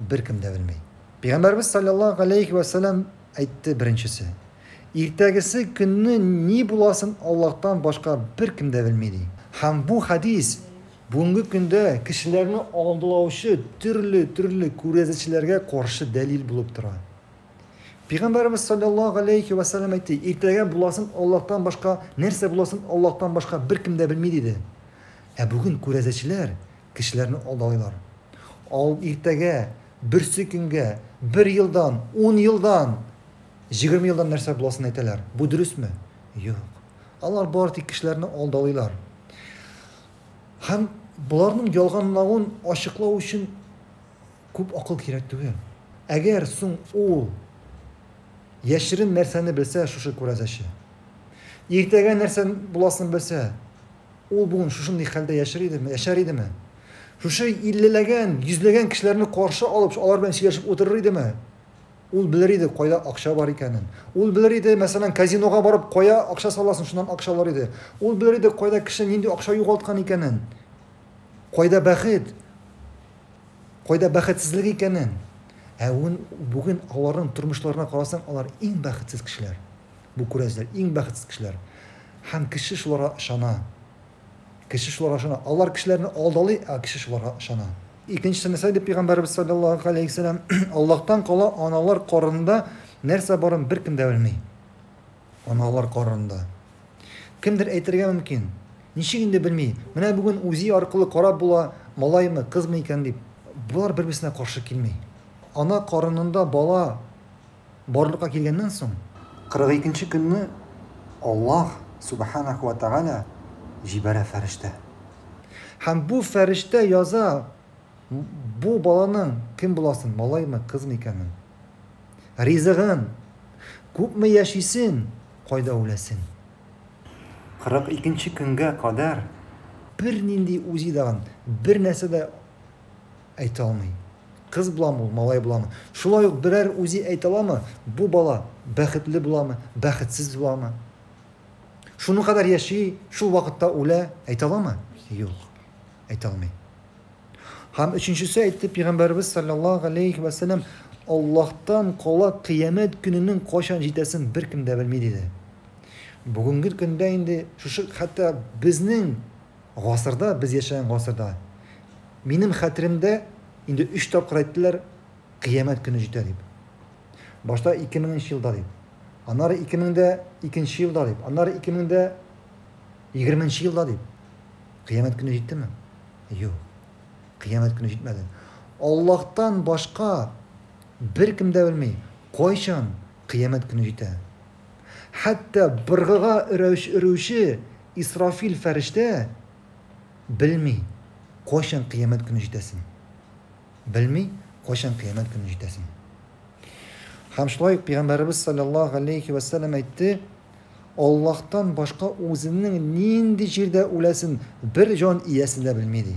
Беркем дә белми. Пәйгамбәрбез салләллаһу галәйһи вә сәлам әйтте беренчесе, Иртәгесе көнне ни буласын Аллаһтан башка беркем дә белми ди. Һәм бу хәдис бүгенге көндә кешеләрне алдылаучы төрле төрле күрәзәчеләргә каршы дәлил булып тора. Пәйгамбәрбез салләллаһу галәйһи вә сәлам әйтте, Иртәгә буласын Аллаһтан башка, нәрсә буласын Аллаһтан башка беркем дә белми диде. Ә бүген күрәзәчеләр Кешеләрне алдалыйлар. Ал иртәгә, берсе көнгә, бер елдан, ун елдан, җигерме елдан нәрсә буласын әйтәләр. Бу дөресме? Юк. Алар бары тик кешеләрне алдалыйлар. Һәм боларның ялганлавын ачыклау өчен күп акыл кирәк түгел. Әгәр соң ул яшерен нәрсәне белсә, шушы күрәзәче. Иртәгә нәрсә буласын белсә, Ул бүген шушындый хәлдә яшер идеме, яшәр идеме? Шушы иллеләгән, йөзләгән кешеләрне каршы алып, алар белән сөйләшеп утырыр идеме? Ул белер иде, кайда акча бар икәнен. Ул белер иде, мәсәлән, казинога барып, кая акча саласың, шуннан акча алыр иде. Ул белер иде, кайда кеше нинди акча югалткан икәнен. Кайда бәхет? Кайда бәхетсезлек икәнен? Ә бүген аларның тормышларына карасаң, алар иң бәхетсез кешеләр. Бу күрәзләр, иң бәхетсез кешеләр. Һәм кеше шуларга ышана. Кеше шуларга ышана. Алар кешеләрне алдалый, ә кеше шуларга ышана. Икенчесе нәрсә диде пәйгамбәребез салләллаһу галәйһи вәсәлләм, Аллаһтан кала аналар карынында нәрсә барын беркем дә белми. Аналар карынында. Кемдер әйтергә мөмкин. Ничек инде белми? Менә бүген үзи аркылы карап була, малаймы, кызмы икән дип. Болар бер-берсенә каршы килми. Ана карынында бала Барлыкка килгәннән соң, 42 нче көнне Аллаһ, Сүбхәнәһү вә Тәгалә, җибәрә фәрештә. Һәм бу фәрештә яза бу баланың кем буласын, малаймы, кызмы икәнен, ризыгын, күпме яшисен, кайда үләсен. 42 нче көнгә кадәр. Бернинди УЗИ дагын, бернәрсә дә Әйтә алмый. Кыз буламы ул, малай буламы? Шулай ук берәр үзе әйтә аламы, бу бала бәхетле буламы, бәхетсез буламы? Шуның кадәр яши, шул вакытта үлә, әйтә аламы? Юк. Әйтә алмый. Һәм өченчесе әйтте пәйгамбәрбез саллаллаһу алейхи ва саллям, Аллаһтан кала кыямәт көненең кайчан җитәсен беркем дә белми диде. Бүгенге көндә инде шушы хәтта безнең Гасырда, без яшәгән гасырда. Минем хәтеремдә, инде өч тапкыр әйттеләр, кыямәт көне җитә дип. Башта ике меңенче елда дип. Аннары ике мең дә икенче елда дип. Аннары ике мең дә егерменче елда дип. Кыямәт көне җиттеме? Юк. Кыямәт көне җитмәде. Аллаһтан башка беркем дә белми, кайчан кыямәт көне җитә. хәтта быргыга өрәүч өрүче Исрафил фәрештә белми, кайчан кыямәт көне җитәсен. Белми, кайчан кыямәт көне җитәсен. Һәм шулай ук Пәйгамбәребез саллаллаһу алейхи ва сәлләм әйтте, Аллаһтан башка үзенең нинди җирдә үләсен бер җан иясе дә белми ди.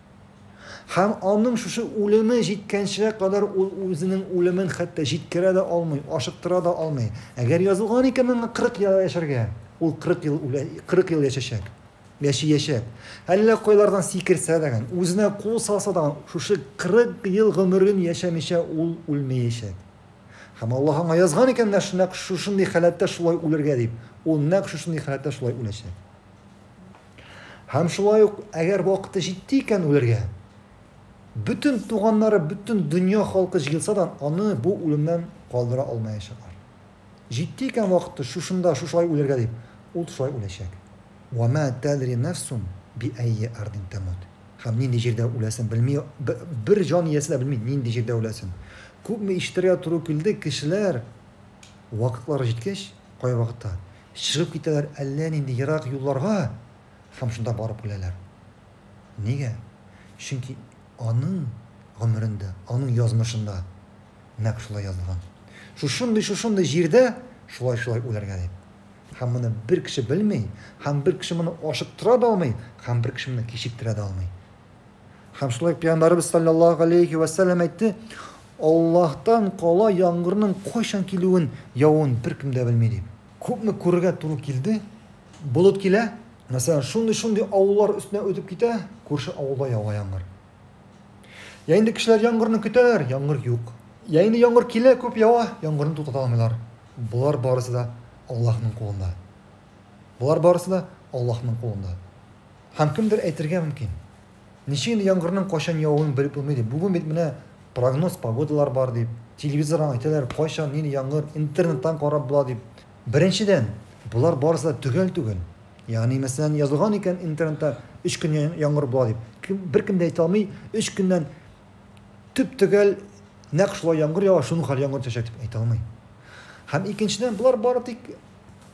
Һәм аның шушы үлеме җиткәнчегә кадәр ул үзенең үлемен хәтта җиткерә дә алмый, ашыктыра да алмый. Әгәр язылган икән аңа 40 ел яшәргә, ул 40 ел үлә, 40 ел яшәчәк. Яшиячәк. Әллә кайлардан сикерсә дәгән, үзенә кул салса даган, шушы 40 ел гомерен яшәмичә ул үлмәячәк. Һәм Аллаһ аңа язган икән нәкъ шундый халәттә шулай үлергә дип, ул нәкъ шушындый халәттә шулай үләчәк. Һәм шулай ук, әгәр вакыты җитте икән үләргә, бөтен туганнары, бөтен дөнья халкы җыелса да, аны бу үлемнән калдыра алмаячаклар. Җитте икән вакыты шушында, шушылай үләргә дип, ул шулай үләчәк. Вә мә тәдри нәфсун биәйи әрдин тәмут. Һәм нинди җирдә үләсен белми, бер җан иясе дә белми, нинди җирдә үләсен. Күпме ишетергә туры килде, кешеләр, вакытлары җиткәч, кайвакытта, Чыгып китәләр әллә нинди ерак юлларга һәм шунда барып үләләр. Нигә? Чөнки аның гомерендә, аның язмышында нәкъ шулай язылган. Шушындый-шушындый җирдә шулай-шулай үләргә дип. Һәм моны бер кеше белми, һәм бер кеше моны ачыктыра да алмый, һәм бер кеше моны кичектерә дә алмый. Һәм шулай Пәйгамбәрбез саллаллаһу галәйһи вә сәлләм әйтте, Аллаһтан кала яңгырның кайчан килүен, явын беркем дә белми дип. Күпме күрергә туры килде, болыт килә, мәсәлән, шундый-шундый авыллар өстенә үтеп китә, күрше авылда ява яңгыр. Я инде кешеләр яңгырны көтәләр, яңгыр юк. Я инде яңгыр килә, күп ява, яңгырны туктата алмыйлар. Болар барысы да Аллаһның кулында. Болар барысы да Аллаһның кулында. Һәм кемдер әйтергә мөмкин, Ничек инде яңгырның кайчан явуын белеп булмый дип, бүген бит менә прогноз погодалар бар дип, телевизордан әйтәләр, кайчан нинди яңгыр, интернеттан карап була дип. Беренчедән, болар барысы да төгәл түгел. Ягъни, мәсәлән, язылган икән интернетта өч көн яңгыр була дип. Кем, беркем дә әйтә алмый, өч көннән төп-төгәл нәкъ шулай яңгыр ява, шуның хәл яңгыр төшәчәк дип әйтә алмый. Һәм икенчедән, болар бары тик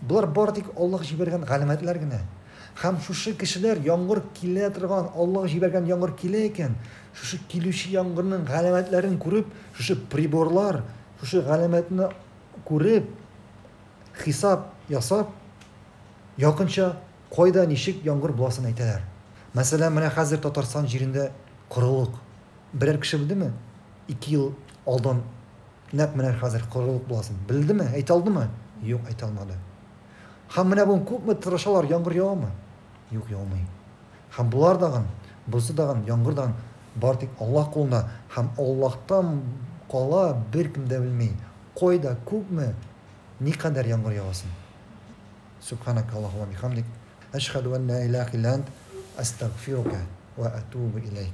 Болар бары тик Аллаһ җибәргән галәмәтләр генә. Һәм шушы кешеләр, яңгыр килә торган, Аллаһ җибәргән яңгыр килә икән, шушы килүче яңгырның галәмәтләрен күреп, шушы приборлар, шушы галәмәтне күреп, хисап ясап, якынча кайда ничек яңгыр буласын әйтәләр. Мәсәлән, менә хәзер Татарстан җирендә корылык. Берәр кеше белдеме, ике ел алдан нәкъ менә хәзер корылык буласын? Белдеме? Әйтә алдымы? Юк, әйтә алмады. Һәм менә бүген күпме тырышалар, яңгыр явамы? Юк, яумый. Һәм болар дагын, бозы дагын, яңгыр дагын бары тик Аллаһ кулында һәм Аллаһтан кала беркем дә белми, кайда, күпме, никадәр яңгыр явасын. Сүбханәк Аллаһума бихамдик, әшһәду ан ла илаһ илә ант, әстәгъфирука вә әтубу иләйк.